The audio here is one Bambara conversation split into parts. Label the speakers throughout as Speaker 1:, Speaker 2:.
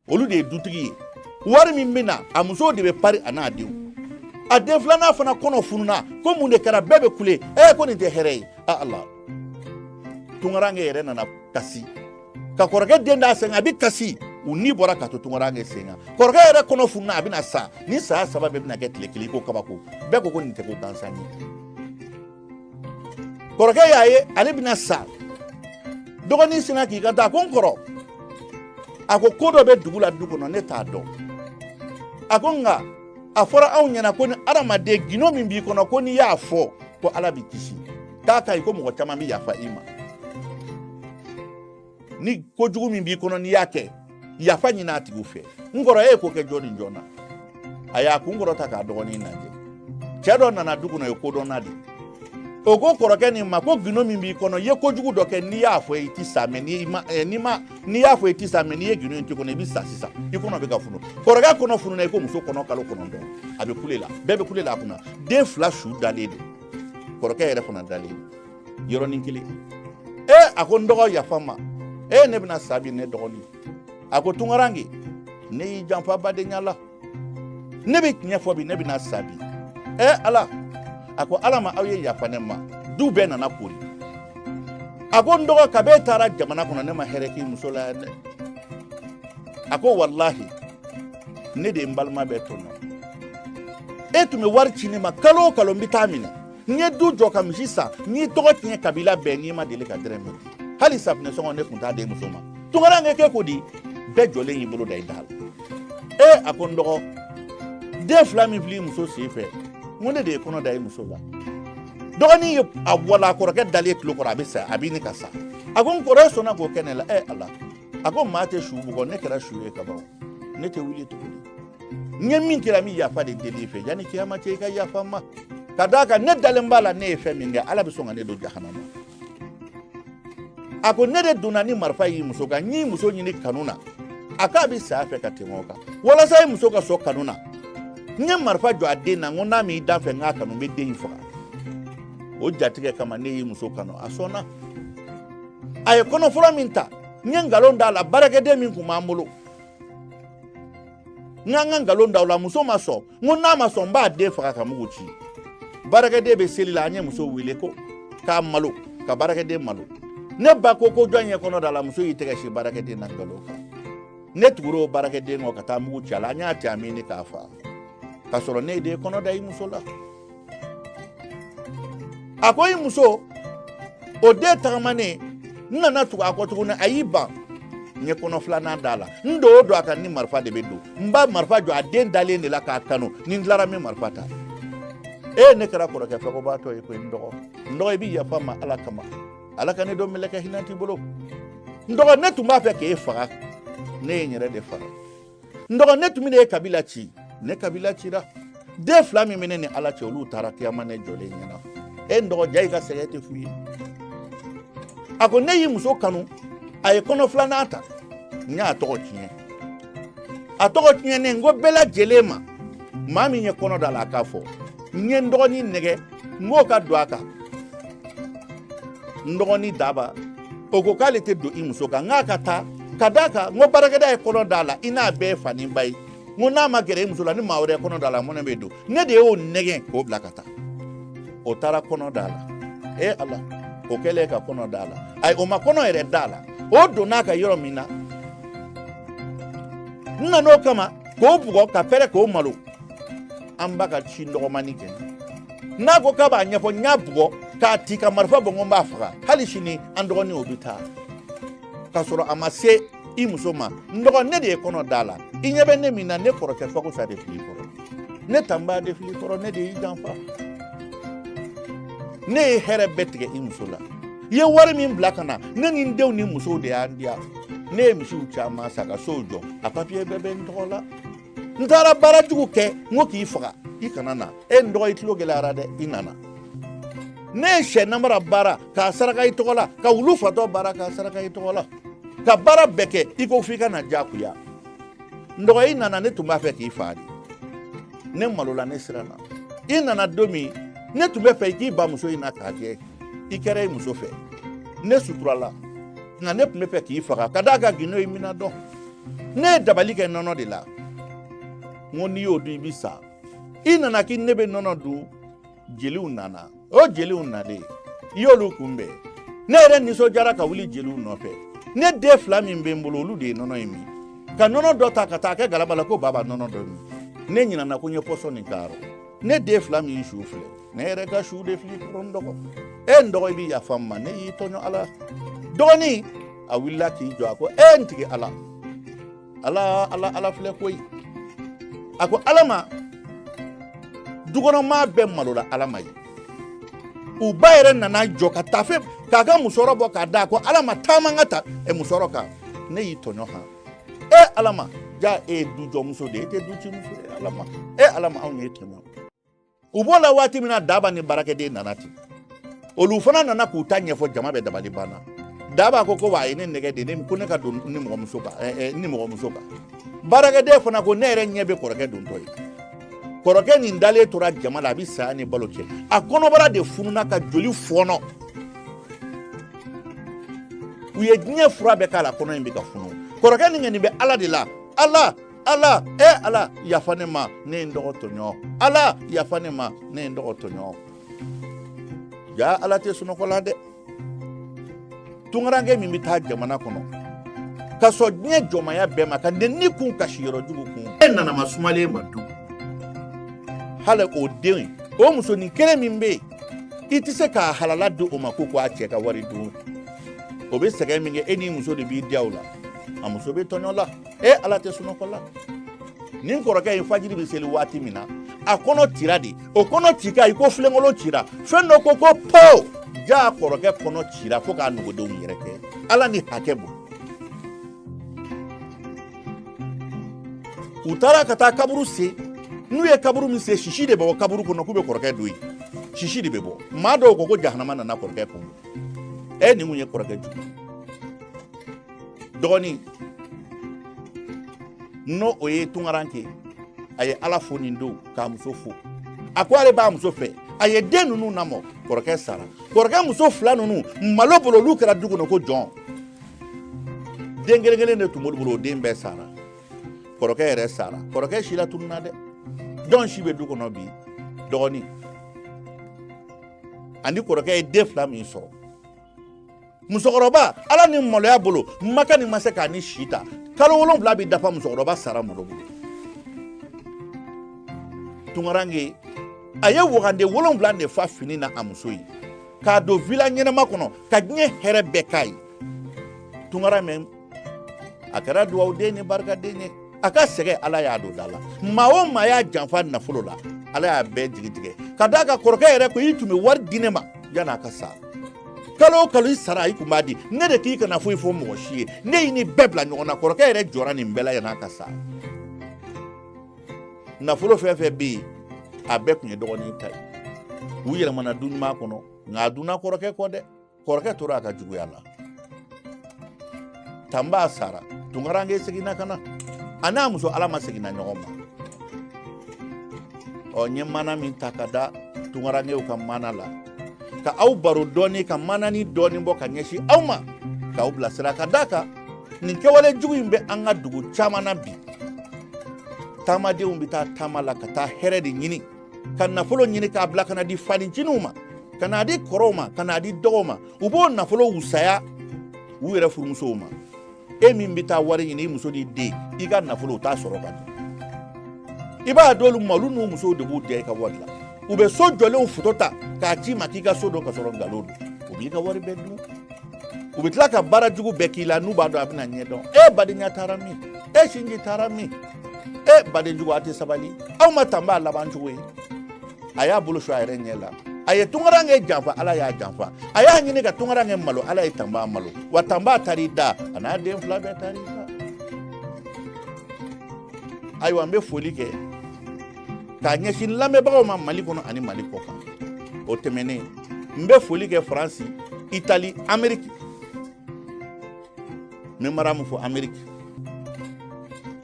Speaker 1: olu de ye dutigi ye wari min bɛ na a musow de bɛ pari a n'a denw a den filanan fana kɔnɔ fununa ko mun de kɛra bɛɛ bɛ kule ee ko nin tɛ hɛrɛ ye a ala tunkaranke yɛrɛ nana kasi ka kɔrɔkɛ den d'a sen na a bɛ kasi u ni bɔra ka to tunkaranke sen kan kɔrɔkɛ yɛrɛ kɔnɔ fununa a bɛna sa nin saya saba bɛɛ bɛna kɛ tile kelen i ko kabako bɛɛ ko ko nin tɛ ko gansan ye kɔrɔkɛ y'a ye ale bɛna sa dɔgɔnin sinna k'i kanto a ko n kɔrɔ a ko ko dɔ bɛ dugu la du kɔnɔ ne t'a dɔn a ko nka a fɔra anw ɲɛna ko ni adamaden gindo min b'i kɔnɔ ko n'i y'a fɔ ko ala b'i kisi k'a ka ɲi ko mɔgɔ caman bɛ yafa i ma ni kojugu min b'i kɔnɔ n'i y'a kɛ yafa ɲini a tigiw fɛ n kɔrɔ e ye ko kɛ jɔn ni jɔn na a y'a kun kɔrɔta k'a dɔgɔnin lajɛ cɛ dɔ nana du kɔnɔ o ye kodɔnna de o ko kɔrɔkɛ nin ma ko gindo min b'i kɔnɔ i ye kojugu dɔ kɛ n'i y'a fɔ i ti sa mɛ n'i ma eh, n'i ma n'i y'a fɔ i ti sa mɛ n'i ye gindo in to kɔnɔ i bɛ sa sisan i kɔnɔ bɛ ka funu kɔrɔkɛ kɔnɔ fununa i ko muso kɔnɔ kalo kɔnɔntɔn a bɛ kule la bɛɛ bɛ kule la a kunna den fila su dalen don kɔrɔkɛ yɛrɛ fana dalen don yɔrɔnin kelen ee a ko n dɔgɔ yafa n ma ee ne bɛna sa bi ne dɔgɔnin a ko tunkaranke ne y'i janfa badenya la ne bɛ tiɲɛ fɔ bi ne bɛna sa bi ee ala a ko ala ma aw ye yafa ne ma du bɛɛ nana kori a ko n dɔgɔ kabi e taara jamana kɔnɔ ne ma hɛrɛ k'i muso la yan dɛ a ko walahi ne de ye n balima bɛɛ tɔɲɔ e tun bɛ wari ci ne ma kalo o kalo n bɛ taa minɛ n ye du jɔ ka misi san n y'i tɔgɔ tiɲɛ kabila bɛɛ ne ma deli ka dɔrɔmɛ di hali safinɛ sɔngɔ ne tun t'a d'e muso ma tunkaranke k'e ko di bɛɛ jɔlen y'i bolo da i da la ee a ko n dɔgɔ den fila min filɛ i muso sen fɛ n ko ne de ye kɔnɔ da i muso la dɔgɔnin ye a walon kɔrɔkɛ dalen tulo kɔrɔ a bɛ sa a bɛ ɲini ka sa a ko n kɔrɔ e sɔnna k'o kɛ ne la ee ala a ko maa tɛ su bugɔ ne kɛra su ye kaban ne tɛ wuli tuguni n ye min k'e la n bɛ yafa de deli i fɛ yanni kiyama cɛ i ka yafa n ma ka d'a kan ne dalen b'a la ne ye fɛn min kɛ ala bɛ sɔn ka ne don jahanama a ko ne de donna ni marifa y'i muso kan n y'i muso ɲini kanu na a k'a bɛ saya fɛ ka tɛmɛ o kan walasa i muso ka sɔn kanu na n ye marifa jɔ a den na n ko n'a m'i da n fɛ n k'a kanu n bɛ den in faga o jatigɛ kama ne y'i muso kanu a sɔnna a ye kɔnɔ fɔlɔ min ta n ye nkalon d'a la baarakɛden min tun b'an bolo n k'an ka nkalon da o la muso ma sɔn n ko n'a ma sɔn n b'a den faga ka mugu ci baarakɛden bɛ seli la an ye muso wele ko k'a malo ka baarakɛden malo ne ba ko ko jɔn ye kɔnɔ d'a la muso y'i tɛgɛ sin baarakɛden na nkalon kan ne tugura o baarakɛden kɔ ka taa mugu ci a la an y'a cɛ a minɛ k'a faga k'a sɔrɔ ne ye den kɔnɔ da i muso la a ko i muso o den tagamanen n nana tugu a kɔ tuguni a y'i ban n ye kɔnɔ filanan d'a la n don o don a kan ni marifa de bɛ don n b'a marifa jɔ a den dalen de la k'a kanu ni n tilara n bɛ marifa ta e ne kɛra kɔrɔkɛ fɛkɔbaatɔ ye koyi n dɔgɔ n dɔgɔ i bɛ yafa n ma ala kama ala ka ne don mɛlɛkɛ hinɛnti bolo n dɔgɔ ne tun b'a fɛ k'e faga ne ye n yɛrɛ de faga n dɔgɔ ne tun bɛ e kabila ci ne kabila cira den fila min bɛ ne ni ala cɛ olu taara kiyama ne jɔlen ɲɛna e n dɔgɔ ja i ka sɛgɛn tɛ fu ye a ko ne y'i muso kanu a ye kɔnɔ filanan ta n y'a tɔgɔ tiɲɛ a tɔgɔ tiɲɛnen n ko bɛɛ lajɛlen ma maa min ye kɔnɔ d'a la a k'a fɔ n ye n dɔgɔnin nɛgɛn n k'o ka don a kan n dɔgɔnin daba o ko k'ale tɛ don i muso kan n k'a ka taa ka d'a kan n ko baarakɛda ye kɔnɔ d'a la i n'a bɛɛ ye fa ni ba ye n ko n'a ma gɛrɛ i muso la ni maa wɛrɛ ye kɔnɔ d'a la mɔnɛ bɛ don ne de y'o nɛgɛn k'o bila ka taa o taara kɔnɔ d'a la e ala o kɛlen ka kɔnɔ d'a la ayi o ma kɔnɔ yɛrɛ d'a la o donna a ka yɔrɔ min na n nan'o kama k'o bugɔ ka pɛrɛn k'o malo an ba ka ci dɔgɔmanin kɛ n'a ko k'a b'a ɲɛfɔ n y'a bugɔ k'a ti ka marifa bɔ n ko n b'a faga hali sini an dɔgɔnin o bɛ taa k'a sɔrɔ a ma se i muso ma n dɔgɔ ne de ye kɔnɔ d'a la i ɲɛ bɛ ne min na ne kɔrɔkɛ fakosa de fil'i kɔrɔ ne tanba de fil'i kɔrɔ ne de y'i janfa ne ye hɛrɛ bɛɛ tigɛ i muso la i ye wari min bila ka na ne ni n denw ni musow de y'an diya ne ye misiw caman san ka sow jɔ a papiye bɛɛ bɛ n tɔgɔ la n taara baara jugu kɛ n ko k'i faga i kana na e n dɔgɔ i tulo gɛlɛyara dɛ i nana ne ye sɛ nabara baara k'a saraka i tɔgɔ la ka wulu fatɔ baara k'a saraka i tɔgɔ la ka baara bɛɛ kɛ i ko f'i ka na jagoya n dɔgɔ i nana ne tun b'a fɛ k'i faa de ne malola ne siranna i nana don min ne tun b'a fɛ i k'i ban muso in na k'a kɛ i kɛra i muso fɛ ne suturala nka ne tun b'a fɛ k'i faga ka d'a kan gindo in bɛna dɔn ne ye dabali kɛ nɔnɔ de la n ko n'i y'o dun i bɛ sa i nana k'i ne bɛ nɔnɔ dun jeliw nana o jeliw nalen i y'olu kunbɛn ne yɛrɛ nisɔndiyara ka wuli jeliw nɔfɛ ne den fila min bɛ n bolo olu de ye nɔnɔ in min ka nɔnɔ dɔ ta ka taa kɛ galama la ko baba nɔnɔ dɔ min ne ɲinana ko n ye pɔsɔni k'a rɔ ne den fila min su filɛ ne yɛrɛ ka su de fil'i kɔrɔ n dɔgɔ e n dɔgɔ i bɛ yafa n ma ne y'i tɔɲɔ ala dɔgɔnin a wulila k'i jɔ a ko e n tigi ala ala ala ala filɛ koyi a ko alama dukɔnɔmaa bɛɛ malola alama ye u ba yɛrɛ nana jɔ ka tafe k'a ka musɔrɔ bɔ k'a da ko alama taama n ka ta e musɔrɔ kan ne y'i tɔɲɔ han e alama ja e ye dujɔmuso de ye e tɛ ducimuso ye alama e alama anw y'e tɔɲɔ u b'o la waati min na daba ni baarakɛden nana ten olu fana nana k'u ta ɲɛfɔ jama bɛɛ dabali banna daba ko ko wa a ye ne nɛgɛn de ko ne ka don ni mɔgɔmuso kan baarakɛden fana ko ne yɛrɛ ɲɛ bɛ kɔrɔkɛ dontɔ ye kɔrɔkɛ nin dalen tora jama la a bɛ saya ni balo cɛ a kɔnɔbara de fununa ka joli fɔɔnɔ u ye diɲɛ fura bɛɛ k'a la kɔnɔ in bɛ ka funu kɔrɔkɛ nin nin bɛ ala de la ala ala e ala yafa ne ma ne ye n dɔgɔ tɔɲɔ ala yafa ne ma ne ye n dɔgɔ tɔɲɔ ja ala tɛ sunɔgɔ la dɛ tunkaranke min bɛ taa jamana kɔnɔ ka sɔn diɲɛ jɔnmaya bɛɛ ma ka nɛni kun ka siyɔrɔ jugu kun e nana ma sumalen ma du hali o den o musonin kelen min bɛ yen i tɛ se k'a halala di o ma ko k'a cɛ ka wari dun o bɛ sɛgɛn min kɛ e n'i muso de b'i diya o la a muso bɛ tɔɲɔ la e ala tɛ sunɔgɔ la nin kɔrɔkɛ in fajiri bɛ seli waati min na a kɔnɔ tira de o kɔnɔ ci kan i ko filenkolon cira fɛn dɔ ko ko po ja kɔrɔkɛ kɔnɔ cira fo k'a nugudenw yɛrɛkɛ ala ni hakɛ bolo u taara ka taa kaburu sen n'u ye kaburu min sen sisi de bɛ bɔ kaburu kɔnɔ k'u bɛ kɔrɔkɛ don yen sisi de bɛ bɔ maa dɔw ko ko jahanama nana kɔrɔkɛ kunbɛn nin kun ye kɔrɔkɛ jugu dɔgɔnin n'o o ye tunkaranke a ye ala fo nin don k'a muso fo a ko ale b'a muso fɛ a ye den ninnu namɔ kɔrɔkɛ sara kɔrɔkɛ muso fila ninnu malo bolo olu kɛra du kɔnɔ ko jɔn den kelen kelen de tun b'olu bolo o den bɛɛ sara kɔrɔkɛ yɛrɛ sara kɔrɔkɛ sila tununna dɛ jɔn si bɛ du kɔnɔ bi dɔgɔnin ani kɔrɔkɛ ye den fila min sɔrɔ musokɔrɔba ala ni maloya bolo makɛ ni ma se k'a ni si ta kalo wolonwula bɛ dafa musokɔrɔba sara malo bolo tunkaranke a ye wagande wolonwula de fa fini na a muso ye k'a don vila ɲɛnama kɔnɔ ka diɲɛ hɛrɛ bɛɛ k'a ye tunkaranke a kɛra dugawuden ni barikaden ye a ka sɛgɛn ala y'a don da la maa o maa y'a janfa nafolo la ala y'a bɛɛ jigi tigɛ ka d'a kan kɔrɔkɛ yɛrɛ ko i tun bɛ wari di ne ma yann'a ka sa kalo o kalo i sara i tun b'a di ne de k'i kana foyi fɔ mɔgɔ si ye ne y'i ni bɛɛ bila ɲɔgɔn na kɔrɔkɛ yɛrɛ jɔra nin bɛɛ la yann'a ka sa nafolo fɛn fɛn bɛ yen a bɛɛ tun ye dɔgɔnin ta ye u yɛlɛmana du ɲuman kɔnɔ nka a dunna kɔrɔkɛ kɔ dɛ kɔrɔkɛ tora a ka juguya la tan f'a sara tunkaranke seginna ka na a n'a muso ala ma seginna ɲɔgɔn ma ɔ n ye maana min ta ka da tunkarankew ka maana la ka aw baro dɔɔni ka maananin dɔɔni bɔ ka ɲɛsin aw ma k'aw bilasira ka d'a kan nin kɛwale jugu in bɛ an ka dugu caman na bi taamadenw bɛ taa taama la ka taa hɛrɛ de ɲini ka nafolo ɲini k'a bila ka n'a di faninciniw ma ka n'a di kɔrɔw ma ka n'a di dɔgɔw ma u b'o nafolo wusaya u yɛrɛ furumusow ma e min bɛ taa wari ɲini i muso n'i den i ka nafolo u t'a sɔrɔ ka di i b'a d'olu ma olu n'u musow de b'u diya i ka wari la u bɛ so jɔlenw foto ta k'a ci i ma k'i ka so don ka sɔrɔ nkalon don u b'i ka wari bɛɛ dun u bɛ tila ka baara jugu bɛɛ k'i la n'u b'a dɔn a bɛna ɲɛ dɔn e badenya taara min e sinji taara min e badenjugu a tɛ sabali aw ma tanba laban cogo ye a y'a bolo su a yɛrɛ ɲɛ la a ye tunkarankɛ janfa ala y'a janfa a y'a ɲini ka tunkarankɛ malo ala ye tanba malo wa tanba taar'i da a n'a den fila bɛɛ taar'i da ayiwa n bɛ foli kɛ k'a ɲɛsin lamɛnbagaw ma mali kɔnɔ ani mali kɔ kan o tɛmɛnen n bɛ foli kɛ faransi itali ameriki n bɛ maramu fo ameriki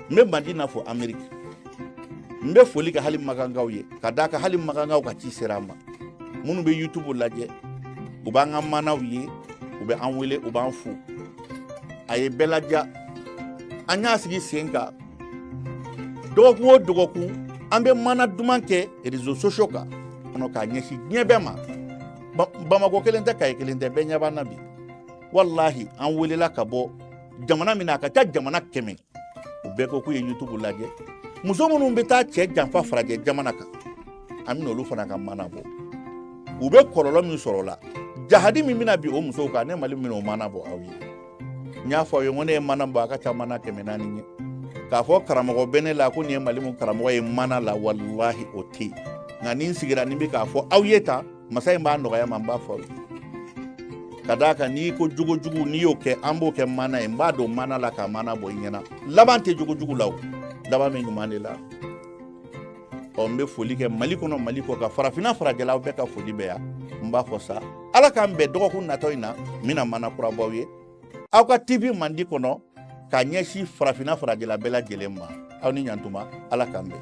Speaker 1: n bɛ madina fo ameriki n bɛ foli kɛ hali makankaw ye ka d'a kan hali makankaw ka ci sera an ma minnu bɛ youtube lajɛ u b'an ka manaw ye u bɛ an wele u b'an fo a ye bɛɛ laja an y'a sigi sen kan dɔgɔkun o dɔgɔkun an bɛ mana duman kɛ rezo sosio kan kɔnɔ k'a ɲɛsin diɲɛ bɛɛ ma bamakɔ kelen tɛ kayi kelen tɛ bɛɛ ɲɛ b'an na bi walahi an welela ka bɔ jamana min na a ka ca jamana kɛmɛ u bɛɛ ko k'u ye yutubu lajɛ muso minnu bɛ taa cɛ janfa farajɛ jamana kan an bɛna olu fana ka mana bɔ u bɛ kɔlɔlɔ min sɔrɔ o la jahadi min bɛna bin o musow kan ne malimu bɛna o mana bɔ aw ye n y'a fɔ aw ye ko ne ye mana bɔ a ka ca mana kɛmɛ naani ye k'a fɔ karamɔgɔ bɛ ne la ko nin ye malimu karamɔgɔ ye mana la walahi o tɛ yen nka ni n sigira ni bɛ k'a fɔ aw ye tan masa in b'a nɔgɔya n ma n b'a fɔ ka d'a kan n'i ko jogojugu n'i y'o kɛ an b'o kɛ mana ye n b'a don mana la ka mana bɔ i ɲɛna laban tɛ jogojugu la o laban bɛ ɲuman de la ɔ n bɛ foli kɛ mali kɔnɔ mali kɔ kan farafinna farajɛlaw bɛɛ ka foli bɛ yan n b'a fɔ sa ala k'an bɛn dɔgɔkun natɔ in na n bɛna mana kura b'aw ye aw ka tv mandi kɔnɔ ka ɲɛsin farafinna farajɛla bɛɛ lajɛlen ma aw ni ɲantuma ala k'an bɛn